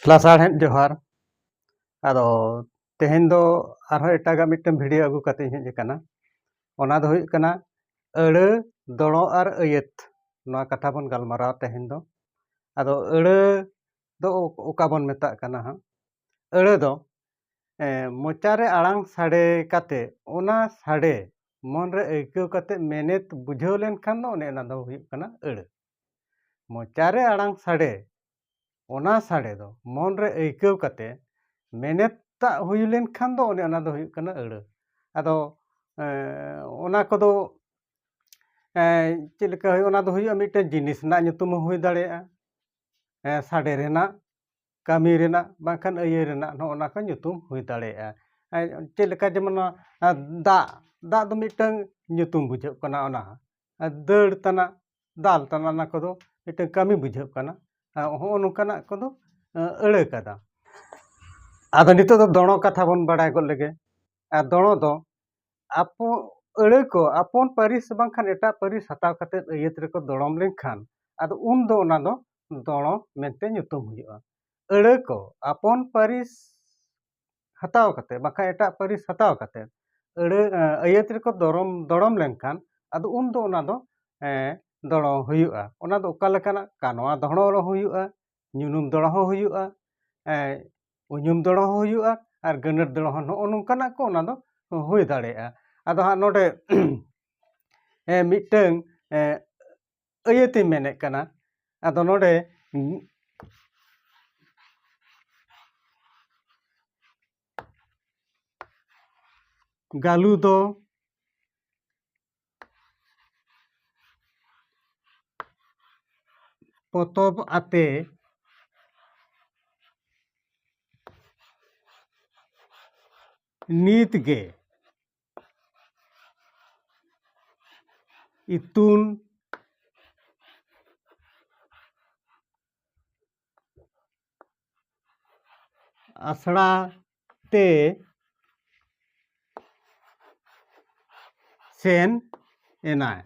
ᱞᱟᱥᱟᱲᱦᱮᱫ ᱡᱚᱦᱟᱨ ᱟᱫᱚ ᱛᱮᱦᱮᱧ ᱫᱚ ᱟᱨᱦᱚᱸ ᱮᱴᱟᱜᱟᱜ ᱢᱤᱫᱴᱟᱝ ᱵᱷᱤᱰᱤᱭᱳ ᱟᱹᱜᱩ ᱠᱟᱛᱮ ᱤᱧ ᱦᱮᱡ ᱟᱠᱟᱱᱟ ᱚᱱᱟ ᱫᱚ ᱦᱩᱭᱩᱜ ᱠᱟᱱᱟ ᱟᱹᱲᱟᱹ ᱫᱚᱲᱚ ᱟᱨ ᱟᱹᱭᱟᱹᱛ ᱱᱚᱣᱟ ᱠᱟᱛᱷᱟ ᱵᱚᱱ ᱜᱟᱞᱢᱟᱨᱟᱣᱟ ᱛᱮᱦᱮᱧ ᱫᱚ ᱟᱫᱚ ᱟᱹᱲᱟᱹ ᱫᱚ ᱚᱠᱟ ᱵᱚᱱ ᱢᱮᱛᱟᱜ ᱠᱟᱱᱟ ᱦᱟᱸᱜ ᱟᱹᱲᱟᱹ ᱫᱚ ᱢᱚᱪᱟᱨᱮ ᱟᱲᱟᱝ ᱥᱟᱰᱮ ᱠᱟᱛᱮ ᱚᱱᱟ ᱥᱟᱰᱮ ᱢᱚᱱᱨᱮ ᱟᱹᱭᱠᱟᱹᱣ ᱠᱟᱛᱮ ᱢᱮᱱᱮᱛ ᱵᱩᱡᱷᱟᱹᱣ ᱞᱮᱱᱠᱷᱟᱱ ᱫᱚ ᱚᱱᱮ ᱚᱱᱟ ᱫᱚ ᱦᱩᱭᱩᱜ ᱠᱟᱱᱟ ᱟᱹᱲᱟᱹ ᱢᱚᱪᱟ ᱨᱮ ᱟᱲᱟᱝ ᱥᱟᱰᱮ ᱚᱱᱟ ᱥᱟᱰᱮ ᱫᱚ ᱢᱚᱱ ᱨᱮ ᱟᱹᱭᱠᱟᱹᱣ ᱠᱟᱛᱮ ᱢᱮᱱᱮᱛ ᱛᱟᱜ ᱦᱩᱭ ᱞᱮᱱ ᱠᱷᱟᱱ ᱫᱚ ᱚᱱᱮ ᱚᱱᱟ ᱫᱚ ᱦᱩᱭᱩᱜ ᱠᱟᱱᱟ ᱟᱹᱲᱟᱹ ᱟᱫᱚ ᱚᱱᱟ ᱠᱚᱫᱚ ᱪᱮᱫ ᱞᱮᱠᱟ ᱦᱩᱭᱩᱜᱼᱟ ᱚᱱᱟ ᱫᱚ ᱦᱩᱭᱩᱜᱼᱟ ᱢᱤᱫᱴᱮᱱ ᱡᱤᱱᱤᱥ ᱨᱮᱱᱟᱜ ᱧᱩᱛᱩᱢ ᱦᱚᱸ ᱦᱩᱭ ᱫᱟᱲᱮᱭᱟᱜᱼᱟ ᱦᱮᱸ ᱥᱟᱰᱮ ᱨᱮᱱᱟᱜ ᱠᱟᱹᱢᱤ ᱨᱮᱱᱟᱜ ᱵᱟᱝᱠᱷᱟᱱ ᱟᱹᱭᱟᱹ ᱨᱮᱱᱟᱜ ᱱᱚᱜᱼᱚ ᱚᱱᱟ ᱠᱚ ᱧᱩᱛᱩᱢ ᱦᱩᱭ ᱫᱟᱲᱮᱭᱟᱜᱼᱟ ᱪᱮᱫ ᱞᱮᱠᱟ ᱡᱮᱢᱚᱱ ᱱᱚᱣᱟ ᱫᱟᱜ ᱫᱟᱜ ᱫᱚ ᱢᱤᱫᱴᱟᱹᱝ ᱧᱩᱛᱩᱢ ᱵᱩᱡᱷᱟᱹᱜ ᱠᱟᱱᱟ ᱚᱱᱟ ᱫᱟᱹᱲ ᱛᱟᱱᱟᱜ ᱫᱟᱞ ᱛᱟᱱᱟᱜ ᱚᱱᱟ ᱠᱚᱫᱚ ᱢᱤᱫᱴᱮᱱ ᱠᱟᱹᱢᱤ ᱵᱩᱡᱷᱟᱹᱜ ᱠᱟᱱᱟ ᱦᱚᱸᱜᱼᱚ ᱱᱚᱝᱠᱟᱱᱟᱜ ᱠᱚᱫᱚ ᱟᱹᱲᱟᱹ ᱠᱟᱫᱟ ᱟᱫᱚ ᱱᱤᱛᱚᱜ ᱫᱚ ᱫᱚᱲᱚ ᱠᱟᱛᱷᱟ ᱵᱚᱱ ᱵᱟᱲᱟᱭ ᱜᱚᱫ ᱞᱮᱜᱮ ᱟᱨ ᱫᱚᱲᱚ ᱫᱚ ᱟᱵᱚ ᱟᱹᱲᱟᱹ ᱠᱚ ᱟᱯᱚᱱ ᱯᱟᱹᱨᱤᱥ ᱵᱟᱝᱠᱷᱟᱱ ᱮᱴᱟᱜ ᱯᱟᱹᱨᱤᱥ ᱦᱟᱛᱟᱣ ᱠᱟᱛᱮ ᱟᱹᱭᱟᱹᱛ ᱨᱮᱠᱚ ᱫᱚᱲᱚᱢ ᱞᱮᱱᱠᱷᱟᱱ ᱟᱫᱚ ᱩᱱ ᱫᱚ ᱚᱱᱟ ᱫᱚ ᱫᱚᱲᱚ ᱢᱮᱱᱛᱮ ᱧᱩᱛᱩᱢ ᱦᱩᱭᱩᱜᱼᱟ ᱟᱹᱲᱟᱹ ᱠᱚ ᱟᱯᱚᱱ ᱯᱟᱹᱨᱤᱥ ᱦᱟᱛᱟᱣ ᱠᱟᱛᱮ ᱵᱟᱠᱷᱟᱡ ᱮᱴᱟᱜ ᱯᱟᱹᱨᱤᱥ ᱦᱟᱛᱟᱣ ᱠᱟᱛᱮ ᱟᱹᱲᱟᱹ ᱟᱹᱭᱟᱹᱛ ᱨᱮᱠᱚ ᱫᱚᱨᱚᱢ ᱫᱚᱲᱚᱢ ᱞᱮᱱᱠᱷᱟᱱ ᱟᱫᱚ ᱩᱱ ᱫᱚ ᱚᱱᱟ ᱫᱚ ᱫᱚᱲᱚᱢ ᱦᱩᱭᱩᱜᱼᱟ ᱚᱱᱟ ᱫᱚ ᱚᱠᱟ ᱞᱮᱠᱟᱱᱟᱜ ᱠᱟᱱᱣᱟ ᱫᱚᱲᱚᱢ ᱨᱮᱦᱚᱸ ᱦᱩᱭᱩᱜᱼᱟ ᱧᱩᱱᱩᱢ ᱫᱚᱲᱚᱢ ᱦᱚᱸ ᱦᱩᱭᱩᱜᱼᱟ ᱩᱧᱩᱢ ᱫᱚᱲᱚᱢ ᱦᱚᱸ ᱦᱩᱭᱩᱜᱼᱟ ᱟᱨ ᱜᱟᱹᱱᱟᱹᱨ ᱫᱚᱲᱚᱢ ᱦᱚᱸ ᱱᱚᱜᱼᱚ ᱱᱚᱝᱠᱟᱱᱟᱜ ᱠᱚ ᱚᱱᱟ ᱫᱚ ᱦᱩᱭ ᱫᱟᱲᱮᱭᱟᱜᱼᱟ ᱟᱫᱚ ᱦᱟᱸᱜ ᱱᱚᱰᱮ ᱢᱤᱫᱴᱟᱹᱝ ᱟᱹᱭᱟᱹᱛᱤᱧ ᱢᱮᱱᱮᱫ ᱠᱟᱱᱟ ᱟᱫᱚ ᱱᱚᱰᱮ ᱜᱟᱞᱩ ᱫᱚ ᱯᱚᱛᱚᱵ ᱟᱛᱮ ᱱᱤᱛ ᱜᱮ ᱤᱛᱩᱱ ᱟᱥᱲᱟ ᱛᱮ ᱥᱮᱱ ᱮᱱᱟᱭ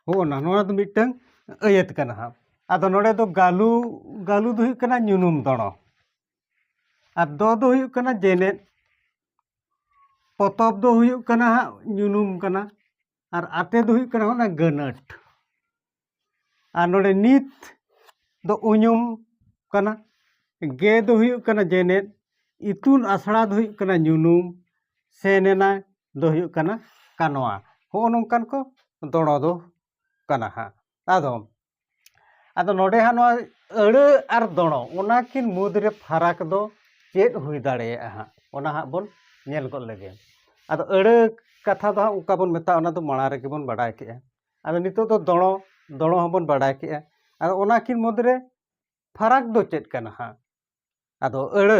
ᱦᱚᱜᱼᱚᱱᱟ ᱱᱚᱣᱟ ᱫᱚ ᱢᱤᱫᱴᱟᱹᱝ ᱟᱹᱭᱟᱹᱛ ᱠᱟᱱᱟ ᱦᱟᱸᱜ ᱟᱫᱚ ᱱᱚᱰᱮ ᱫᱚ ᱜᱟᱹᱞᱩ ᱜᱟᱹᱞᱩ ᱫᱚ ᱦᱩᱭᱩᱜ ᱠᱟᱱᱟ ᱧᱩᱱᱩᱢ ᱫᱚᱲᱚ ᱟᱨ ᱫᱚ ᱫᱚ ᱦᱩᱭᱩᱜ ᱠᱟᱱᱟ ᱡᱮᱱᱮᱫ ᱯᱚᱛᱚᱵ ᱫᱚ ᱦᱩᱭᱩᱜ ᱠᱟᱱᱟ ᱦᱟᱸᱜ ᱧᱩᱱᱩᱢ ᱠᱟᱱᱟ ᱟᱨ ᱟᱛᱮ ᱫᱚ ᱦᱩᱭᱩᱜ ᱠᱟᱱᱟ ᱚᱱᱟ ᱜᱟᱹᱱᱟᱹᱴ ᱟᱨ ᱱᱚᱰᱮ ᱱᱤᱛ ᱫᱚ ᱩᱧᱩᱢ ᱠᱟᱱᱟ ᱜᱮ ᱫᱚ ᱦᱩᱭᱩᱜ ᱠᱟᱱᱟ ᱡᱮᱱᱮᱫ ᱤᱛᱩᱱ ᱟᱥᱲᱟ ᱫᱚ ᱦᱩᱭᱩᱜ ᱠᱟᱱᱟ ᱧᱩᱱᱩᱢ ᱥᱮᱱ ᱮᱱᱟᱭ ᱫᱚ ᱦᱩᱭᱩᱜ ᱠᱟᱱᱟ ᱠᱟᱱᱣᱟ ᱦᱚᱸᱜᱼᱚ ᱱᱚᱝᱠᱟᱱ ᱠᱚ ᱫᱚᱲᱚ ᱫᱚ ᱠᱟᱱᱟ ᱦᱟᱸᱜ ᱟᱫᱚ ᱟᱫᱚ ᱱᱚᱰᱮ ᱦᱟᱸᱜ ᱱᱚᱣᱟ ᱟᱹᱲᱟᱹ ᱟᱨ ᱫᱚᱲᱚ ᱚᱱᱟ ᱠᱤᱱ ᱢᱩᱫᱽ ᱨᱮ ᱯᱷᱟᱨᱟᱠ ᱫᱚ ᱪᱮᱫ ᱦᱩᱭ ᱫᱟᱲᱮᱭᱟᱜᱼᱟ ᱦᱟᱸᱜ ᱚᱱᱟ ᱦᱟᱸᱜ ᱵᱚᱱ ᱧᱮᱞ ᱜᱚᱫ ᱞᱮᱜᱮ ᱟᱫᱚ ᱟᱹᱲᱟᱹ ᱠᱟᱛᱷᱟ ᱫᱚ ᱦᱟᱸᱜ ᱚᱠᱟ ᱵᱚᱱ ᱢᱮᱛᱟᱜᱼᱟ ᱚᱱᱟ ᱫᱚ ᱢᱟᱲᱟᱝ ᱨᱮᱜᱮ ᱵᱚᱱ ᱵᱟᱰᱟᱭ ᱠᱮᱜᱼᱟ ᱟᱫᱚ ᱱᱤᱛᱚᱜ ᱫᱚ ᱫᱚᱲᱚ ᱫᱚᱲᱚ ᱦᱚᱸ ᱵᱚᱱ ᱵᱟᱰᱟᱭ ᱠᱮᱜᱼᱟ ᱟᱫᱚ ᱚᱱᱟ ᱠᱤᱱ ᱢᱩᱫᱽ ᱨᱮ ᱯᱷᱟᱨᱟᱠ ᱫᱚ ᱪᱮᱫ ᱠᱟᱱᱟ ᱦᱟᱸᱜ ᱟᱫᱚ ᱟᱹᱲᱟᱹ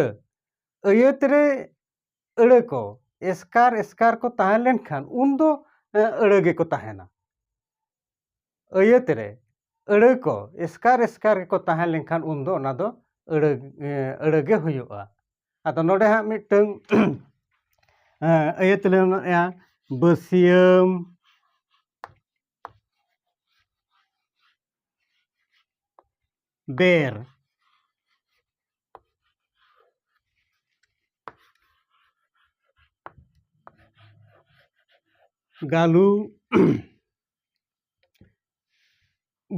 ᱟᱹᱭᱟᱹᱛ ᱨᱮ ᱟᱹᱲᱟᱹ ᱠᱚ ᱮᱥᱠᱟᱨ ᱮᱥᱠᱟᱨ ᱠᱚ ᱛᱟᱦᱮᱸ ᱞᱮᱱᱠᱷᱟᱱ ᱩᱱ ᱫᱚ ᱟᱹᱲᱟᱹ ᱜᱮᱠᱚ ᱛᱟᱦᱮᱱᱟ ᱟᱹᱭᱟᱹᱛ ᱨᱮ ᱟᱹᱲᱟᱹ ᱠᱚ ᱮᱥᱠᱟᱨ ᱮᱥᱠᱟᱨ ᱜᱮᱠᱚ ᱛᱟᱦᱮᱸ ᱞᱮᱱᱠᱷᱟᱱ ᱩᱱ ᱫᱚ ᱚᱱᱟ ᱫᱚ ᱟᱹᱲᱟᱹ ᱟᱹᱲᱟᱹ ᱜᱮ ᱦᱩᱭᱩᱜᱼᱟ ᱟᱫᱚ ᱱᱚᱰᱮ ᱦᱟᱸᱜ ᱢᱤᱫᱴᱟᱹᱝ ᱟᱹᱭᱟᱹᱛ ᱨᱮ ᱢᱮᱱᱟᱜᱼᱟ ᱵᱟᱹᱥᱭᱟᱹᱢ ᱵᱮᱨ ᱜᱟᱹᱞᱩ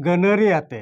ᱜᱟᱹᱱᱟᱹᱨᱤ ᱟᱛᱮ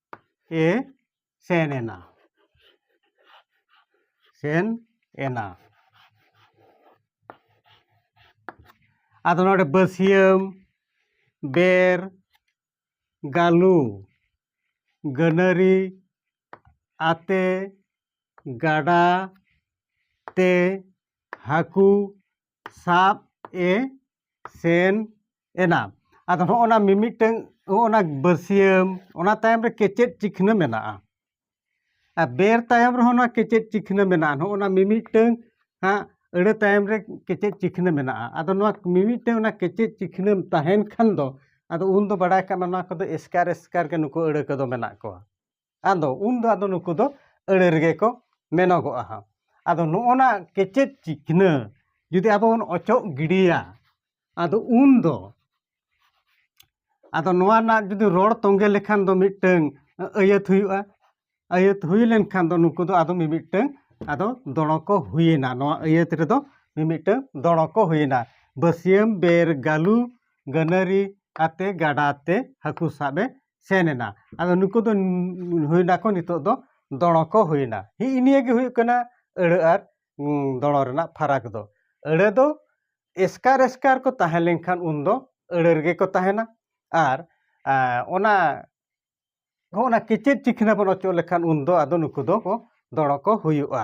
ᱮ ᱥᱮᱱ ᱮᱱᱟ ᱥᱮᱱ ᱮᱱᱟ ᱟᱫᱚ ᱱᱚᱰᱮ ᱵᱟᱹᱥᱭᱟᱹᱢ ᱵᱮᱨ ᱜᱟᱹᱞᱩ ᱜᱟᱹᱱᱟᱹᱨᱤ ᱟᱛᱮ ᱜᱟᱰᱟ ᱛᱮ ᱦᱟᱹᱠᱩ ᱥᱟᱵ ᱮ ᱥᱮᱱ ᱮᱱᱟ ᱟᱫᱚ ᱱᱚᱜᱼᱚ ᱱᱟ ᱢᱤᱢᱤᱫᱴᱟᱹᱝ ᱱᱚᱜᱼᱚ ᱱᱟ ᱵᱟᱹᱥᱭᱟᱹᱢ ᱚᱱᱟ ᱛᱟᱭᱚᱢ ᱨᱮ ᱠᱮᱪᱮᱫ ᱪᱤᱠᱷᱱᱟᱹ ᱢᱮᱱᱟᱜᱼᱟ ᱟᱨ ᱵᱮᱨ ᱛᱟᱭᱚᱢ ᱨᱮᱦᱚᱸ ᱱᱚᱣᱟ ᱠᱮᱪᱮᱫ ᱪᱤᱠᱷᱱᱟᱹ ᱢᱮᱱᱟᱜᱼᱟ ᱱᱚᱜᱼᱚ ᱱᱟ ᱢᱤᱢᱤᱫᱴᱟᱹᱝ ᱦᱟᱸᱜ ᱟᱹᱲᱟᱹ ᱛᱟᱭᱚᱢ ᱨᱮ ᱠᱮᱪᱮᱫ ᱪᱤᱠᱷᱱᱟᱹ ᱢᱮᱱᱟᱜᱼᱟ ᱟᱫᱚ ᱱᱚᱣᱟ ᱢᱤᱢᱤᱫᱴᱟᱹᱝ ᱚᱱᱟ ᱠᱮᱪᱮᱫ ᱪᱤᱠᱷᱱᱟᱹ ᱛᱟᱦᱮᱱ ᱠᱷᱟᱱ ᱫᱚ ᱟᱫᱚ ᱩᱱ ᱫᱚ ᱵᱟᱰᱟᱭ ᱠᱟᱜ ᱢᱮ ᱱᱚᱣᱟ ᱠᱚᱫᱚ ᱮᱥᱠᱟᱨ ᱮᱥᱠᱟᱨ ᱜᱮ ᱱᱩᱠᱩ ᱟᱹᱲᱟᱹ ᱠᱚᱫᱚ ᱢᱮᱱᱟᱜ ᱠᱚᱣᱟ ᱟᱫᱚ ᱩᱱ ᱫᱚ ᱟᱫᱚ ᱱᱩᱠᱩ ᱫᱚ ᱟᱹᱲᱟᱹ ᱨᱮᱜᱮ ᱠᱚ ᱢᱮᱱᱚᱜᱚᱜᱼᱟ ᱦᱟᱸᱜ ᱟᱫᱚ ᱱᱚᱜᱼᱚᱭ ᱱᱟ ᱠᱮᱪᱮᱫ ᱪᱤᱠᱷᱱᱟᱹ ᱡᱩᱫᱤ ᱟᱵᱚ ᱵᱚᱱ ᱚᱪᱚᱜ ᱜᱤᱰᱤᱭᱟ ᱟᱫᱚ ᱩᱱ ᱫᱚ ᱟᱫᱚ ᱱᱚᱣᱟ ᱨᱮᱱᱟᱜ ᱡᱩᱫᱤ ᱨᱚᱲ ᱛᱚᱸᱜᱮ ᱞᱮᱠᱷᱟᱱ ᱫᱚ ᱢᱤᱫᱴᱟᱹᱝ ᱟᱹᱭᱟᱹᱛ ᱦᱩᱭᱩᱜᱼᱟ ᱟᱹᱭᱟᱹᱛ ᱦᱩᱭ ᱞᱮᱱᱠᱷᱟᱱ ᱫᱚ ᱱᱩᱠᱩ ᱫᱚ ᱟᱫᱚ ᱢᱤᱢᱤᱫᱴᱟᱹᱝ ᱟᱫᱚ ᱫᱚᱲᱚ ᱠᱚ ᱦᱩᱭᱮᱱᱟ ᱱᱚᱣᱟ ᱟᱹᱭᱟᱹᱛ ᱨᱮᱫᱚ ᱢᱤᱢᱤᱫᱴᱟᱹᱝ ᱫᱚᱲᱚ ᱠᱚ ᱦᱩᱭᱮᱱᱟ ᱵᱟᱹᱥᱭᱟᱹᱢ ᱵᱮᱨ ᱜᱟᱹᱞᱩ ᱜᱟᱹᱱᱟᱹᱨᱤ ᱟᱛᱮ ᱜᱟᱰᱟ ᱛᱮ ᱦᱟᱹᱠᱩ ᱥᱟᱵ ᱮ ᱥᱮᱱ ᱮᱱᱟ ᱟᱫᱚ ᱱᱩᱠᱩ ᱫᱚ ᱦᱩᱭ ᱱᱟᱠᱚ ᱱᱤᱛᱚᱜ ᱫᱚ ᱫᱚᱲᱚ ᱠᱚ ᱦᱩᱭ ᱮᱱᱟ ᱦᱮᱸᱜᱼᱮ ᱱᱤᱭᱟᱹ ᱜᱮ ᱦᱩᱭᱩᱜ ᱠᱟᱱᱟ ᱟᱹᱲᱟᱹ ᱟᱨ ᱫᱚᱲᱚ ᱨᱮᱱᱟᱜ ᱯᱷᱟᱨᱟᱠ ᱫᱚ ᱟᱹᱲᱟᱹ ᱫᱚ ᱮᱥᱠᱟᱨ ᱮᱥᱠᱟᱨ ᱠᱚ ᱛᱟᱦᱮᱸ ᱞᱮᱱᱠᱷᱟᱱ ᱩᱱ ᱫᱚ ᱟᱹᱲᱟᱹ ᱨᱮᱜᱮ ᱠᱚ ᱛᱟᱦᱮᱱᱟ ᱟᱨ ᱚᱱᱟ ᱦᱚᱸᱜᱼᱚ ᱱᱟ ᱠᱮᱪᱮᱫ ᱪᱤᱠᱷᱱᱟᱹ ᱵᱚᱱ ᱚᱪᱚᱜ ᱞᱮᱠᱷᱟᱱ ᱩᱱ ᱫᱚ ᱟᱫᱚ ᱱᱩᱠᱩ ᱫᱚ ᱠᱚ ᱫᱚᱲᱚ ᱠᱚ ᱦᱩᱭᱩᱜᱼᱟ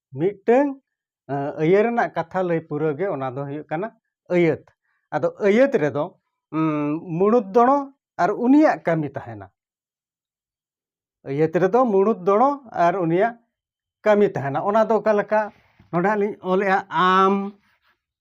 ᱢᱤᱫᱴᱟᱹᱝ ᱟᱹᱭᱟᱹ ᱨᱮᱱᱟᱜ ᱠᱟᱛᱷᱟ ᱞᱟᱹᱭ ᱯᱩᱨᱟᱹᱣ ᱜᱮ ᱚᱱᱟ ᱫᱚ ᱦᱩᱭᱩᱜ ᱠᱟᱱᱟ ᱟᱹᱭᱟᱹᱛ ᱟᱫᱚ ᱟᱹᱭᱟᱹᱛ ᱨᱮᱫᱚ ᱢᱩᱬᱩᱛ ᱫᱚᱲᱚ ᱟᱨ ᱩᱱᱤᱭᱟᱜ ᱠᱟᱹᱢᱤ ᱛᱟᱦᱮᱱᱟ ᱟᱹᱭᱟᱹᱛ ᱨᱮᱫᱚ ᱢᱩᱬᱩᱛ ᱫᱚᱲᱚ ᱟᱨ ᱩᱱᱤᱭᱟᱜ ᱠᱟᱹᱢᱤ ᱛᱟᱦᱮᱱᱟ ᱚᱱᱟ ᱫᱚ ᱚᱠᱟ ᱞᱮᱠᱟ ᱱᱚᱰᱮ ᱦᱟᱸᱜ ᱞᱤᱧ ᱚᱞᱮᱜᱼᱟ ᱟᱢ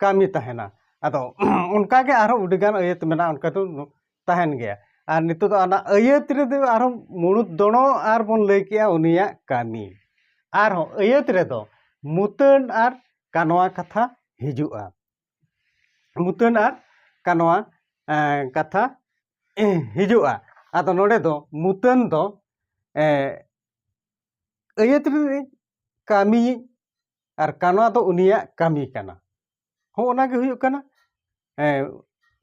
ᱠᱟᱹᱢᱤ ᱛᱟᱦᱮᱱᱟ ᱟᱫᱚ ᱚᱱᱠᱟᱜᱮ ᱟᱨᱦᱚᱸ ᱟᱹᱰᱤᱜᱟᱱ ᱟᱹᱭᱟᱹᱛ ᱢᱮᱱᱟᱜᱼᱟ ᱚᱱᱠᱟ ᱫᱚ ᱛᱟᱦᱮᱱ ᱜᱮᱭᱟ ᱟᱨ ᱱᱤᱛᱚᱜ ᱫᱚ ᱚᱱᱟ ᱟᱹᱭᱟᱹᱛ ᱨᱮᱫᱚ ᱟᱨᱦᱚᱸ ᱢᱩᱬᱩᱫ ᱫᱚᱬᱚ ᱟᱨ ᱵᱚᱱ ᱞᱟᱹᱭ ᱠᱮᱜᱼᱟ ᱩᱱᱤᱭᱟᱜ ᱠᱟᱹᱢᱤ ᱟᱨᱦᱚᱸ ᱟᱹᱭᱟᱹᱛ ᱨᱮᱫᱚ ᱢᱩᱛᱟᱹᱱ ᱟᱨ ᱠᱟᱱᱣᱟ ᱠᱟᱛᱷᱟ ᱦᱤᱡᱩᱜᱼᱟ ᱢᱩᱛᱟᱹᱱ ᱟᱨ ᱠᱟᱱᱣᱟ ᱠᱟᱛᱷᱟ ᱦᱤᱡᱩᱜᱼᱟ ᱟᱫᱚ ᱱᱚᱰᱮ ᱫᱚ ᱢᱩᱛᱟᱹᱱ ᱫᱚ ᱟᱹᱭᱟᱹᱛ ᱨᱮ ᱠᱟᱹᱢᱤ ᱟᱨ ᱠᱟᱱᱣᱟ ᱫᱚ ᱩᱱᱤᱭᱟᱜ ᱠᱟᱹᱢᱤ ᱠᱟᱱᱟ ᱦᱚᱸᱜᱼᱚ ᱱᱟ ᱜᱮ ᱦᱩᱭᱩᱜ ᱠᱟᱱᱟ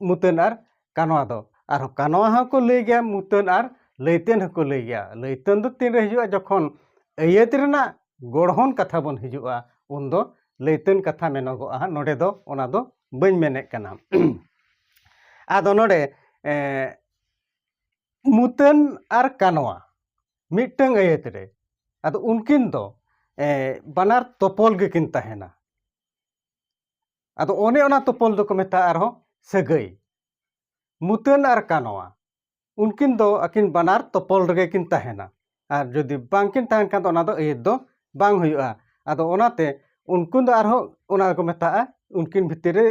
ᱢᱩᱛᱟᱹᱱ ᱟᱨ ᱠᱟᱱᱣᱟ ᱫᱚ ᱟᱨ ᱠᱟᱱᱣᱟ ᱦᱚᱸᱠᱚ ᱞᱟᱹᱭ ᱜᱮᱭᱟ ᱢᱩᱛᱟᱹᱱ ᱟᱨ ᱞᱟᱹᱭᱛᱮᱱ ᱦᱚᱸᱠᱚ ᱞᱟᱹᱭ ᱜᱮᱭᱟ ᱞᱟᱹᱭᱛᱮᱱ ᱫᱚ ᱛᱤᱱ ᱨᱮ ᱦᱤᱡᱩᱜᱼᱟ ᱡᱚᱠᱷᱚᱱ ᱟᱹᱭᱟᱹᱛ ᱨᱮᱱᱟᱜ ᱜᱚᱲᱦᱚᱱ ᱠᱟᱛᱷᱟ ᱵᱚᱱ ᱦᱤᱡᱩᱜᱼᱟ ᱩᱱ ᱫᱚ ᱞᱟᱹᱭᱛᱮᱱ ᱠᱟᱛᱷᱟ ᱢᱮᱱᱚᱜᱚᱜᱼᱟ ᱦᱟᱸᱜ ᱱᱚᱰᱮ ᱫᱚ ᱚᱱᱟ ᱫᱚ ᱵᱟᱹᱧ ᱢᱮᱱᱮᱫ ᱠᱟᱱᱟ ᱟᱫᱚ ᱱᱚᱰᱮ ᱢᱩᱛᱟᱹᱱ ᱟᱨ ᱠᱟᱱᱣᱟ ᱢᱤᱫᱴᱟᱹᱝ ᱟᱹᱭᱟᱹᱛ ᱨᱮ ᱟᱫᱚ ᱩᱱᱠᱤᱱ ᱫᱚ ᱵᱟᱱᱟᱨ ᱛᱚᱯᱚᱞ ᱜᱮᱠᱤᱱ ᱛᱟᱦᱮᱱᱟ ᱟᱫᱚ ᱚᱱᱮ ᱚᱱᱟ ᱛᱚᱯᱚᱞ ᱫᱚᱠᱚ ᱢᱮᱛᱟᱜᱼᱟ ᱟᱨᱦᱚᱸ ᱥᱟᱹᱜᱟᱹᱭ ᱢᱩᱛᱟᱹᱱ ᱟᱨ ᱠᱟᱱᱣᱟ ᱩᱱᱠᱤᱱ ᱫᱚ ᱟᱹᱠᱤᱱ ᱵᱟᱱᱟᱨ ᱛᱚᱯᱚᱞ ᱨᱮᱜᱮ ᱠᱤᱱ ᱛᱟᱦᱮᱱᱟ ᱟᱨ ᱡᱩᱫᱤ ᱵᱟᱝᱠᱤᱱ ᱛᱟᱦᱮᱱ ᱠᱷᱟᱱ ᱫᱚ ᱚᱱᱟ ᱫᱚ ᱟᱹᱭᱟᱹᱛ ᱫᱚ ᱵᱟᱝ ᱦᱩᱭᱩᱜᱼᱟ ᱟᱫᱚ ᱚᱱᱟᱛᱮ ᱩᱱᱠᱤᱱ ᱫᱚ ᱟᱨᱦᱚᱸ ᱚᱱᱟ ᱫᱚᱠᱚ ᱢᱮᱛᱟᱜᱼᱟ ᱩᱱᱠᱤᱱ ᱵᱷᱤᱛᱤᱨ ᱨᱮ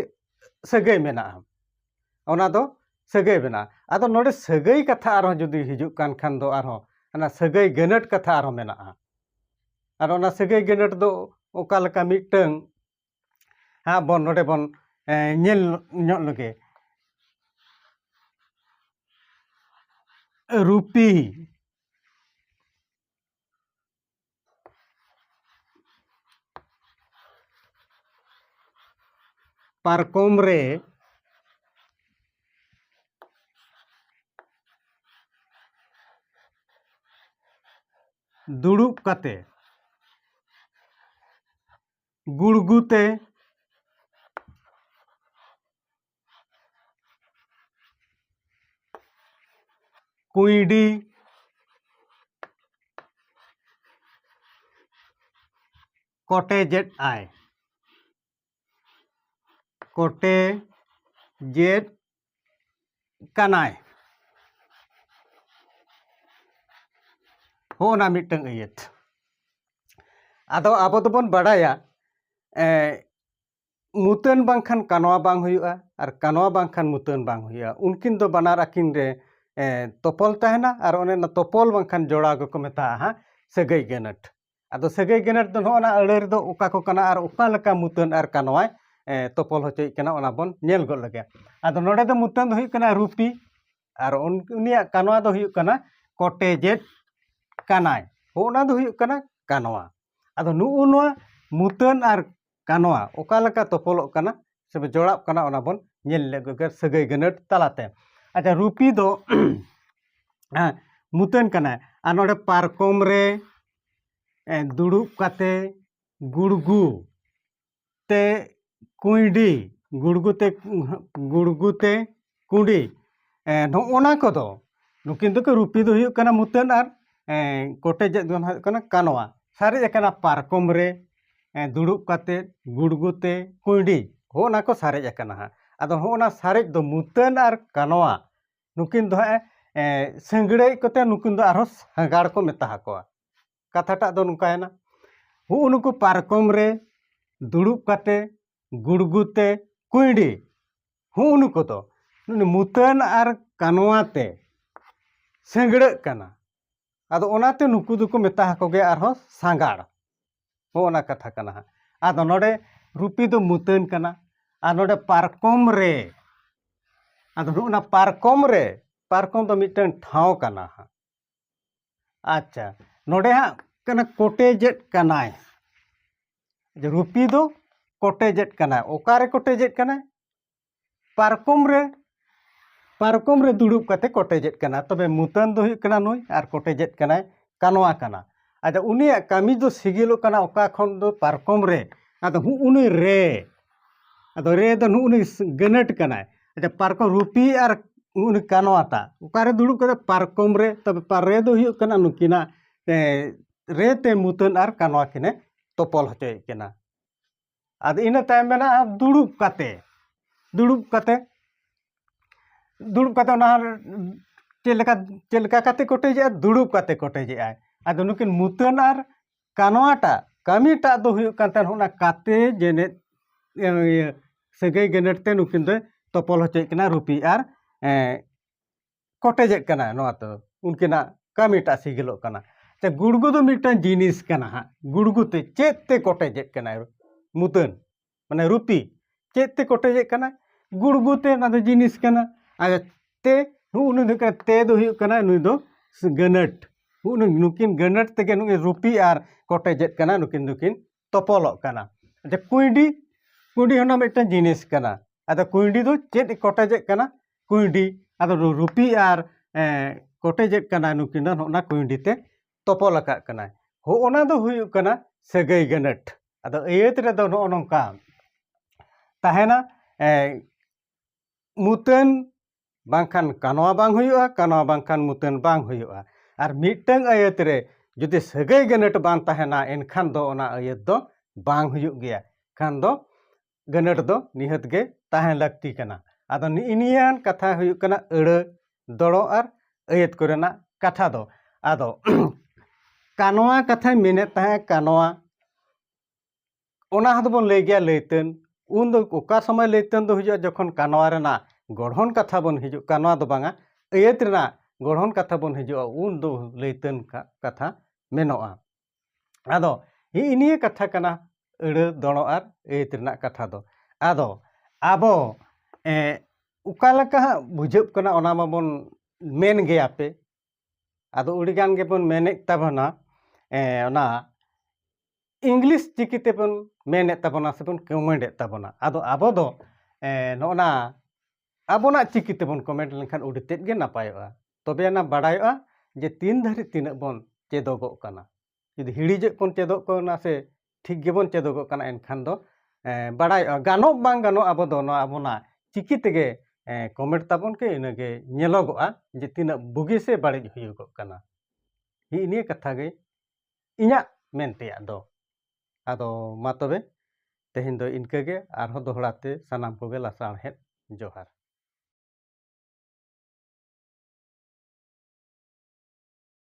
ᱥᱟᱹᱜᱟᱹᱭ ᱢᱮᱱᱟᱜᱼᱟ ᱚᱱᱟ ᱫᱚ ᱥᱟᱹᱜᱟᱹᱭ ᱵᱮᱱᱟᱜᱼᱟ ᱟᱫᱚ ᱱᱚᱰᱮ ᱥᱟᱹᱜᱟᱹᱭ ᱠᱟᱛᱷᱟ ᱟᱨᱦᱚᱸ ᱡᱩᱫᱤ ᱦᱤᱡᱩᱜ ᱠᱟᱱ ᱠᱷᱟᱱ ᱫᱚ ᱟᱨᱦᱚᱸ ᱚᱱᱟ ᱥᱟᱹᱜᱟᱹᱭ ᱜᱟᱹᱱᱟᱹᱴ ᱠᱟᱛᱷᱟ ᱟᱨᱦᱚᱸ ᱢᱮᱱᱟᱜᱼᱟ ᱟᱨ ᱚᱱᱟ ᱥᱟᱹᱜᱟᱹᱭ ᱜᱟᱹᱱᱟᱹᱴ ᱫᱚ ᱚᱠᱟ ᱞᱮᱠᱟ ᱢᱤᱫᱴᱟᱹᱝ ᱦᱟᱸᱜ ᱵᱚᱱ ᱱᱚᱰᱮ ᱵᱚᱱ ᱧᱮᱞ ᱧᱚᱜ ᱞᱮᱜᱮ ᱨᱩᱯᱤ ᱯᱟᱨᱠᱚᱢ ᱨᱮ ᱫᱩᱲᱩᱵ ᱠᱟᱛᱮ ᱜᱩᱲᱜᱩ ᱛᱮ ᱠᱩᱸᱭᱰᱤ ᱠᱚᱴᱮᱡᱮᱫ ᱟᱭ ᱠᱚᱴᱮᱡᱮᱫ ᱠᱟᱱᱟᱭ ᱦᱚᱸᱜᱼᱚ ᱱᱟ ᱢᱤᱫᱴᱟᱝ ᱟᱹᱭᱟᱹᱛ ᱟᱫᱚ ᱟᱵᱚ ᱫᱚᱵᱚᱱ ᱵᱟᱲᱟᱭᱟ ᱢᱩᱛᱟᱹᱱ ᱵᱟᱝᱠᱷᱟᱱ ᱠᱟᱱᱣᱟ ᱵᱟᱝ ᱦᱩᱭᱩᱜᱼᱟ ᱟᱨ ᱠᱟᱱᱣᱟ ᱵᱟᱝᱠᱷᱟᱱ ᱢᱩᱛᱟᱹᱱ ᱵᱟᱝ ᱦᱩᱭᱩᱜᱼᱟ ᱩᱱᱠᱤᱱ ᱫᱚ ᱵᱟᱱᱟᱨ ᱟᱹᱠᱤᱱ ᱨᱮ ᱛᱚᱯᱚᱞ ᱛᱟᱦᱮᱱᱟ ᱟᱨ ᱚᱱᱮ ᱚᱱᱟ ᱛᱚᱯᱚᱞ ᱵᱟᱝᱠᱷᱟᱱ ᱡᱚᱲᱟᱣ ᱜᱮᱠᱚ ᱢᱮᱛᱟᱜᱼᱟ ᱦᱟᱸᱜ ᱥᱟᱹᱜᱟᱹᱭ ᱜᱟᱹᱱᱟᱹᱴ ᱟᱫᱚ ᱥᱟᱹᱜᱟᱹᱭ ᱜᱟᱹᱱᱟᱹᱴ ᱫᱚ ᱱᱚᱜᱼᱚ ᱱᱟ ᱟᱹᱲᱟᱹ ᱨᱮᱫᱚ ᱚᱠᱟ ᱠᱚ ᱠᱟᱱᱟ ᱟᱨ ᱚᱠᱟ ᱞᱮᱠᱟ ᱢᱩᱛᱟᱹᱱ ᱟᱨ ᱠᱟᱱᱣᱟᱭ ᱛᱚᱯᱚᱞ ᱦᱚᱪᱚᱭᱮᱫ ᱠᱟᱱᱟ ᱚᱱᱟ ᱵᱚᱱ ᱧᱮᱞ ᱜᱚᱫ ᱞᱮᱜᱮ ᱟᱫᱚ ᱱᱚᱰᱮ ᱫᱚ ᱢᱩᱛᱟᱹᱱ ᱫᱚ ᱦᱩᱭᱩᱜ ᱠᱟᱱᱟ ᱨᱩᱯᱤ ᱟᱨ ᱩᱱᱤᱭᱟᱜ ᱠᱟᱱᱣᱟ ᱫᱚ ᱦᱩᱭᱩᱜ ᱠᱟᱱᱟ ᱠᱚᱴᱮᱡᱮᱫ ᱠᱟᱱᱟᱭ ᱚᱱᱟ ᱫᱚ ᱦᱩᱭᱩᱜ ᱠᱟᱱᱟ ᱠᱟᱱᱣᱟ ᱟᱫᱚ ᱱᱩᱜᱼᱩ ᱱᱚᱣᱟ ᱢᱩᱛᱟᱹᱱ ᱟᱨ ᱠᱟᱱᱣᱟ ᱚᱠᱟ ᱞᱮᱠᱟ ᱛᱚᱯᱚᱞᱚᱜ ᱠᱟᱱᱟ ᱥᱮ ᱡᱚᱲᱟᱜ ᱠᱟᱱᱟ ᱚᱱᱟ ᱵᱚᱱ ᱧᱮᱞ ᱞᱮᱜᱮ ᱥᱟᱹᱜᱟᱹᱭ ᱜᱟᱹᱱᱟᱹᱴ ᱛᱟᱞᱟᱛᱮ ᱟᱪᱪᱷᱟ ᱨᱩᱯᱤ ᱫᱚ ᱢᱩᱛᱟᱹᱱ ᱠᱟᱱᱟᱭ ᱟᱨ ᱱᱚᱰᱮ ᱯᱟᱨᱠᱚᱢ ᱨᱮ ᱫᱩᱲᱩᱵ ᱠᱟᱛᱮ ᱜᱩᱲᱜᱩ ᱛᱮ ᱠᱩᱸᱭᱰᱤ ᱜᱩᱲᱜᱩ ᱛᱮ ᱜᱩᱲᱜᱩ ᱛᱮ ᱠᱩᱰᱤ ᱱᱚᱜᱼᱚ ᱱᱟ ᱠᱚᱫᱚ ᱱᱩᱠᱤᱱ ᱫᱚᱠᱤᱱ ᱨᱩᱯᱤ ᱫᱚ ᱦᱩᱭᱩᱜ ᱠᱟᱱᱟ ᱢᱩᱛᱟᱹᱱ ᱟᱨ ᱠᱚᱴᱮᱡ ᱟᱜ ᱫᱚ ᱦᱟᱸᱜ ᱦᱩᱭᱩᱜ ᱠᱟᱱᱟ ᱠᱟᱱᱣᱟ ᱥᱟᱨᱮᱡ ᱟᱠᱟᱱᱟ ᱯᱟᱨᱠᱚᱢ ᱨᱮ ᱫᱩᱲᱩᱵ ᱠᱟᱛᱮ ᱜᱩᱲᱜᱩ ᱛᱮ ᱠᱩᱸᱭᱰᱤ ᱦᱚᱸᱜᱼᱚ ᱱᱟ ᱠᱚ ᱥᱟᱨᱮᱡ ᱟᱠᱟᱱᱟ ᱦᱟᱸᱜ ᱟᱫᱚ ᱦᱚᱸᱜᱼᱚ ᱱᱟ ᱥᱟᱨᱮᱡ ᱫᱚ ᱢᱩᱛᱟᱹᱱ ᱟᱨ ᱠᱟᱱᱣᱟ ᱱᱩᱠᱤᱱ ᱫᱚ ᱦᱟᱸᱜ ᱥᱤᱝᱲᱟᱹᱭ ᱠᱚᱛᱮ ᱱᱩᱠᱤᱱ ᱫᱚ ᱟᱨᱦᱚᱸ ᱥᱟᱸᱜᱟᱲ ᱠᱚ ᱢᱮᱛᱟ ᱦᱟᱠᱚᱣᱟ ᱠᱟᱛᱷᱟᱴᱟᱜ ᱫᱚ ᱱᱚᱝᱠᱟᱭᱮᱱᱟ ᱦᱩᱜᱼᱩ ᱱᱩᱠᱩ ᱯᱟᱨᱠᱚᱢ ᱨᱮ ᱫᱩᱲᱩᱵ ᱠᱟᱛᱮ ᱜᱩᱲᱜᱩ ᱛᱮ ᱠᱩᱸᱭᱰᱤ ᱦᱩᱜᱼᱩ ᱱᱩᱠᱩ ᱫᱚ ᱱᱩᱭ ᱢᱩᱛᱟᱹᱱ ᱟᱨ ᱠᱟᱱᱣᱟ ᱛᱮ ᱥᱤᱸᱜᱽᱲᱟᱹᱜ ᱠᱟᱱᱟ ᱟᱫᱚ ᱚᱱᱟᱛᱮ ᱱᱩᱠᱩ ᱫᱚᱠᱚ ᱢᱮᱛᱟ ᱦᱟᱠᱚ ᱜᱮᱭᱟ ᱟᱨᱦᱚᱸ ᱥᱟᱸᱜᱟᱲ ᱦᱚᱸ ᱚᱱᱟ ᱠᱟᱛᱷᱟ ᱠᱟᱱᱟ ᱦᱟᱸᱜ ᱟᱫᱚ ᱱᱚᱰᱮ ᱨᱩᱯᱤ ᱫᱚ ᱢᱩᱛᱟᱹᱱ ᱠᱟᱱᱟ ᱟᱨ ᱱᱚᱰᱮ ᱯᱟᱨᱠᱚᱢ ᱨᱮ ᱟᱫᱚ ᱱᱚᱜᱼᱚ ᱱᱟ ᱯᱟᱨᱠᱚᱢ ᱨᱮ ᱯᱟᱨᱠᱚᱢ ᱫᱚ ᱢᱤᱫᱴᱟᱝ ᱴᱷᱟᱶ ᱠᱟᱱᱟ ᱦᱟᱸᱜ ᱟᱪᱪᱷᱟ ᱱᱚᱰᱮ ᱦᱟᱸᱜ ᱠᱟᱱᱟ ᱠᱚᱴᱮᱡᱮᱫ ᱠᱟᱱᱟᱭ ᱨᱩᱯᱤ ᱫᱚ ᱠᱚᱴᱮᱡᱮᱫ ᱠᱟᱱᱟᱭ ᱚᱠᱟᱨᱮ ᱠᱚᱴᱮᱡᱮᱫ ᱠᱟᱱᱟᱭ ᱯᱟᱨᱠᱚᱢ ᱨᱮ ᱯᱟᱨᱠᱚᱢ ᱨᱮ ᱫᱩᱲᱩᱵ ᱠᱟᱛᱮ ᱠᱚᱴᱮᱡᱮᱫ ᱠᱟᱱᱟ ᱛᱚᱵᱮ ᱢᱩᱛᱟᱹᱱ ᱫᱚ ᱦᱩᱭᱩᱜ ᱠᱟᱱᱟ ᱱᱩᱭ ᱟᱨ ᱠᱚᱴᱮᱡᱮᱫ ᱠᱟᱱᱟᱭ ᱠᱟᱱᱣᱟ ᱠᱟᱱᱟ ᱟᱫᱚ ᱩᱱᱤᱭᱟᱜ ᱠᱟᱹᱢᱤ ᱫᱚ ᱥᱤᱜᱤᱞᱚᱜ ᱠᱟᱱᱟ ᱚᱠᱟ ᱠᱷᱚᱱ ᱫᱚ ᱯᱟᱨᱠᱚᱢ ᱨᱮ ᱟᱫᱚ ᱦᱩᱜᱼᱩᱱᱤ ᱨᱮ ᱟᱫᱚ ᱨᱮ ᱫᱚ ᱱᱩᱜ ᱱᱩᱭ ᱜᱟᱹᱱᱟᱹᱴ ᱠᱟᱱᱟᱭ ᱟᱪᱪᱷᱟ ᱯᱟᱨᱠᱚᱢ ᱨᱩᱯᱤ ᱟᱨ ᱱᱩᱜ ᱱᱩᱭ ᱠᱟᱱᱣᱟ ᱴᱟᱜ ᱚᱠᱟᱨᱮ ᱫᱩᱲᱩᱵ ᱠᱟᱱᱟᱭ ᱯᱟᱨᱠᱚᱢ ᱨᱮ ᱛᱚᱵᱮ ᱨᱮ ᱫᱚ ᱦᱩᱭᱩᱜ ᱠᱟᱱᱟ ᱱᱩᱠᱤᱱᱟᱜ ᱨᱮ ᱛᱮ ᱢᱩᱛᱟᱹᱱ ᱟᱨ ᱠᱟᱱᱣᱟ ᱠᱤᱱᱮ ᱛᱚᱯᱚᱞ ᱦᱚᱪᱚᱭᱮᱫ ᱠᱤᱱᱟ ᱟᱫᱚ ᱤᱱᱟᱹ ᱛᱟᱭᱚᱢ ᱢᱮᱱᱟᱜᱼᱟ ᱫᱩᱲᱩᱵ ᱠᱟᱛᱮ ᱫᱩᱲᱩᱵ ᱠᱟᱛᱮ ᱫᱩᱲᱩᱵ ᱠᱟᱛᱮ ᱚᱱᱟ ᱪᱮᱫ ᱞᱮᱠᱟ ᱪᱮᱫ ᱞᱮᱠᱟ ᱠᱟᱛᱮ ᱠᱚᱴᱮᱡᱮᱜᱼᱟᱭ ᱫᱩᱲᱩᱵ ᱠᱟᱛᱮ ᱠᱚᱴᱮᱡᱮᱜᱼᱟᱭ ᱟᱫᱚ ᱱᱩᱠᱤᱱ ᱢᱩᱛᱟᱹᱱ ᱟᱨ ᱠᱟᱱᱣᱟᱴᱟᱜ ᱠᱟᱹᱢᱤᱴᱟᱜ ᱫᱚ ᱦᱩᱭᱩᱜ ᱠᱟᱱ ᱛᱟᱦᱮᱱ ᱚᱱᱟ ᱠᱟᱛᱮ ᱡᱮᱱᱮᱫ ᱤᱭᱟᱹ ᱥᱟᱹᱜᱟᱹᱭ ᱜᱮᱱᱮᱛ ᱛᱮ ᱱᱩᱠᱤᱱ ᱫᱚᱭ ᱛᱚᱯᱚᱞ ᱦᱚᱪᱚᱭᱮᱫ ᱠᱤᱱᱟ ᱨᱩᱯᱤ ᱟᱨ ᱠᱚᱴᱮᱡᱮᱫ ᱠᱟᱱᱟᱭ ᱱᱚᱣᱟ ᱛᱮᱫᱚ ᱩᱱᱠᱤᱱᱟᱜ ᱠᱟᱹᱢᱤᱴᱟᱜ ᱥᱤᱜᱤᱞᱚᱜ ᱠᱟᱱᱟ ᱥᱮ ᱜᱩᱲᱜᱩ ᱫᱚ ᱢᱤᱫᱴᱟᱝ ᱡᱤᱱᱤᱥ ᱠᱟᱱᱟ ᱦᱟᱸᱜ ᱜᱩᱲᱜᱩ ᱛᱮ ᱪᱮᱫ ᱛᱮ ᱠᱚᱴᱮᱡᱮᱫ ᱠᱟᱱᱟᱭ ᱢᱩᱫᱟᱹᱢ ᱢᱟᱱᱮ ᱨᱩᱛᱤ ᱪᱮᱫ ᱛᱮ ᱠᱚᱴᱮᱡᱮᱫ ᱠᱟᱱᱟ ᱜᱩᱲᱜᱩ ᱛᱮ ᱚᱱᱟ ᱫᱚ ᱡᱤᱱᱤᱥ ᱠᱟᱱᱟ ᱟᱨ ᱛᱮ ᱱᱩᱜ ᱱᱩᱭ ᱫᱚ ᱦᱩᱭᱩᱜ ᱠᱟᱱᱟ ᱛᱮ ᱫᱚ ᱦᱩᱭᱩᱜ ᱠᱟᱱᱟ ᱱᱩᱭ ᱫᱚ ᱜᱟᱹᱱᱟᱹᱴ ᱱᱩᱠᱤᱱ ᱜᱟᱹᱱᱟᱹᱴ ᱛᱮᱜᱮ ᱱᱩᱭ ᱨᱩᱯᱤ ᱟᱨ ᱠᱚᱴᱮᱡᱮᱫ ᱠᱟᱱᱟ ᱱᱩᱠᱤᱱ ᱫᱚᱠᱤᱱ ᱛᱚᱯᱚᱞᱚᱜ ᱠᱟᱱᱟ ᱟᱪᱪᱷᱟ ᱠᱩᱸᱭᱰᱤ ᱠᱩᱸᱭᱰᱤ ᱦᱚᱸ ᱢᱤᱫᱴᱟᱝ ᱡᱤᱱᱤᱥ ᱠᱟᱱᱟ ᱟᱫᱚ ᱠᱩᱸᱭᱰᱤ ᱫᱚ ᱪᱮᱫ ᱠᱚᱴᱮᱡᱮᱫ ᱠᱟᱱᱟ ᱠᱩᱸᱭᱰᱤ ᱟᱫᱚ ᱨᱩᱯᱤ ᱟᱨ ᱠᱚᱴᱮᱡᱮᱫ ᱠᱟᱱᱟ ᱱᱩᱠᱤᱱ ᱫᱚ ᱱᱚᱜᱼᱚ ᱱᱟ ᱠᱩᱸᱭᱰᱤ ᱛᱮ ᱛᱚᱯᱚᱞ ᱟᱠᱟᱫ ᱠᱟᱱᱟᱭ ᱦᱚᱜᱼᱚ ᱱᱟ ᱫᱚ ᱦᱩᱭᱩᱜ ᱠᱟᱱᱟ ᱥᱟᱹᱜᱟᱹᱭ ᱜᱟᱹᱱᱟᱹᱴ ᱟᱫᱚ ᱟᱹᱭᱟᱹᱛ ᱨᱮᱫᱚ ᱱᱚᱜᱼᱚ ᱱᱚᱝᱠᱟ ᱛᱟᱦᱮᱱᱟ ᱢᱩᱛᱟᱹᱱ ᱵᱟᱝᱠᱷᱟᱱ ᱠᱟᱱᱣᱟ ᱵᱟᱝ ᱦᱩᱭᱩᱜᱼᱟ ᱠᱟᱱᱣᱟ ᱵᱟᱝᱠᱷᱟᱱ ᱢᱩᱛᱟᱹᱱ ᱵᱟᱝ ᱦᱩᱭᱩᱜᱼᱟ ᱟᱨ ᱢᱤᱫᱴᱟᱝ ᱟᱹᱭᱟᱹᱛ ᱨᱮ ᱡᱩᱫᱤ ᱥᱟᱹᱜᱟᱹᱭ ᱜᱟᱹᱱᱟᱹᱴ ᱵᱟᱝ ᱛᱟᱦᱮᱱᱟ ᱮᱱᱠᱷᱟᱱ ᱫᱚ ᱚᱱᱟ ᱟᱹᱭᱟᱹᱛ ᱫᱚ ᱵᱟᱝ ᱦᱩᱭᱩᱜ ᱜᱮᱭᱟ ᱠᱷᱟᱱ ᱫᱚ ᱜᱟᱹᱱᱟᱹᱴ ᱫᱚ ᱱᱤᱦᱟᱹᱛ ᱜᱮ ᱛᱟᱦᱮᱸ ᱞᱟᱹᱠᱛᱤ ᱠᱟᱱᱟ ᱟᱫᱚ ᱱᱮᱜᱼᱮ ᱱᱤᱭᱟᱹ ᱠᱟᱛᱷᱟ ᱦᱩᱭᱩᱜ ᱠᱟᱱᱟ ᱟᱹᱲᱟᱹ ᱫᱚᱲᱚ ᱟᱨ ᱟᱹᱭᱟᱹᱛ ᱠᱚᱨᱮᱱᱟᱜ ᱠᱟᱛᱷᱟ ᱫᱚ ᱟᱫᱚ ᱠᱟᱱᱣᱟ ᱠᱟᱛᱷᱟᱧ ᱢᱮᱱᱮᱫ ᱛᱟᱦᱮᱸᱫ ᱠᱟᱱᱣᱟ ᱚᱱᱟ ᱦᱚᱸ ᱫᱚᱵᱚᱱ ᱞᱟᱹᱭ ᱜᱮᱭᱟ ᱞᱟᱹᱭᱛᱟᱹᱱ ᱩᱱ ᱫᱚ ᱚᱠᱟ ᱥᱚᱢᱚᱭ ᱞᱟᱹᱭᱛᱟᱹᱱ ᱫᱚ ᱦᱩᱭᱩᱜᱼᱟ ᱡᱚᱠᱷᱚᱱ ᱠᱟᱱᱣᱟ ᱨᱮᱱᱟᱜ ᱜᱚᱲᱦᱚᱱ ᱠᱟᱛᱷᱟ ᱵᱚᱱ ᱦᱤᱡᱩᱜ ᱠᱟᱱᱣᱟ ᱫᱚ ᱵᱟᱝᱟ ᱟᱹᱭᱟᱹᱛ ᱨᱮᱱᱟᱜ ᱜᱚᱲᱦᱚᱱ ᱠᱟᱛᱷᱟ ᱵᱚᱱ ᱦᱤᱡᱩᱜᱼᱟ ᱩᱱ ᱫᱚ ᱞᱟᱹᱭᱛᱟᱹᱱ ᱠᱟᱛᱷᱟ ᱢᱮᱱᱚᱜᱼᱟ ᱟᱫᱚ ᱦᱤᱜ ᱱᱤᱭᱟᱹ ᱠᱟᱛᱷᱟ ᱠᱟᱱᱟ ᱟᱹᱲᱟᱹ ᱫᱚᱲᱚ ᱟᱨ ᱟᱹᱭᱟᱹᱛ ᱨᱮᱱᱟᱜ ᱠᱟᱛᱷᱟ ᱫᱚ ᱟᱫᱚ ᱟᱵᱚ ᱚᱠᱟ ᱞᱮᱠᱟ ᱦᱟᱸᱜ ᱵᱩᱡᱷᱟᱹᱜ ᱠᱟᱱᱟ ᱚᱱᱟ ᱢᱟᱵᱚᱱ ᱢᱮᱱ ᱜᱮᱭᱟ ᱯᱮ ᱟᱫᱚ ᱟᱹᱰᱤ ᱜᱟᱱ ᱜᱮᱵᱚᱱ ᱢᱮᱱᱮᱫ ᱛᱟᱵᱚᱱᱟ ᱚᱱᱟ ᱤᱝᱞᱤᱥ ᱪᱤᱠᱤ ᱛᱮᱵᱚᱱ ᱢᱮᱱᱮᱫ ᱛᱟᱵᱚᱱᱟ ᱥᱮᱵᱚᱱ ᱠᱚᱢᱮᱱᱴ ᱮᱫ ᱛᱟᱵᱚᱱᱟ ᱟᱫᱚ ᱟᱵᱚ ᱫᱚ ᱱᱚᱜᱼᱚ ᱱᱟ ᱟᱵᱚᱱᱟᱜ ᱪᱤᱠᱤ ᱛᱮᱵᱚᱱ ᱠᱚᱢᱮᱱᱴ ᱞᱮᱱᱠᱷᱟᱱ ᱟᱹᱰᱤ ᱛᱮᱫ ᱜᱮ ᱱᱟᱯᱟᱭᱚᱜᱼᱟ ᱛᱚᱵᱮ ᱟᱱᱟ ᱵᱟᱰᱟᱭᱚᱜᱼᱟ ᱡᱮ ᱛᱤᱱ ᱫᱷᱟᱹᱨᱤᱡ ᱛᱤᱱᱟᱹᱜ ᱵᱚᱱ ᱪᱮᱫᱚᱜᱚᱜ ᱠᱟᱱᱟ ᱡᱩᱫᱤ ᱦᱤᱲᱤᱡᱮᱫ ᱵᱚᱱ ᱪᱮᱫᱚᱜ ᱠᱟᱱᱟ ᱥᱮ ᱴᱷᱤᱠ ᱜᱮᱵᱚᱱ ᱪᱮᱫᱚᱜᱚᱜ ᱠᱟᱱᱟ ᱮᱱᱠᱷᱟᱱ ᱫᱚ ᱵᱟᱰᱟᱭᱚᱜᱼᱟ ᱜᱟᱱᱚᱜ ᱵᱟᱝ ᱜᱟᱱᱚᱜ ᱟᱵᱚ ᱫᱚ ᱱᱚᱣᱟ ᱟᱵᱚᱱᱟᱜ ᱪᱤᱠᱤ ᱛᱮᱜᱮ ᱠᱚᱢᱮᱱᱴ ᱛᱟᱵᱚᱱ ᱯᱮ ᱤᱱᱟᱹᱜᱮ ᱧᱮᱞᱚᱜᱚᱜᱼᱟ ᱡᱮ ᱛᱤᱱᱟᱹᱜ ᱵᱩᱜᱤ ᱥᱮ ᱵᱟᱹᱲᱤᱡ ᱦᱩᱭᱩᱜᱚᱜ ᱠᱟᱱᱟ ᱦᱤᱜᱼᱤ ᱱᱤᱭᱟᱹ ᱠᱟᱛᱷᱟ ᱜᱮ ᱤᱧᱟᱹᱜ ᱢᱮᱱ ᱛᱮᱭᱟᱜ ᱫᱚ ᱟᱫᱚ ᱢᱟ ᱛᱚᱵᱮ ᱛᱮᱦᱮᱧ ᱫᱚ ᱤᱱᱠᱟᱹ ᱜᱮ ᱟᱨᱦᱚᱸ ᱫᱚᱦᱲᱟ ᱛᱮ ᱥᱟᱱᱟᱢ ᱠᱚᱜᱮ ᱞᱟᱥᱟᱬᱦᱮᱫ ᱡᱚᱦᱟᱨ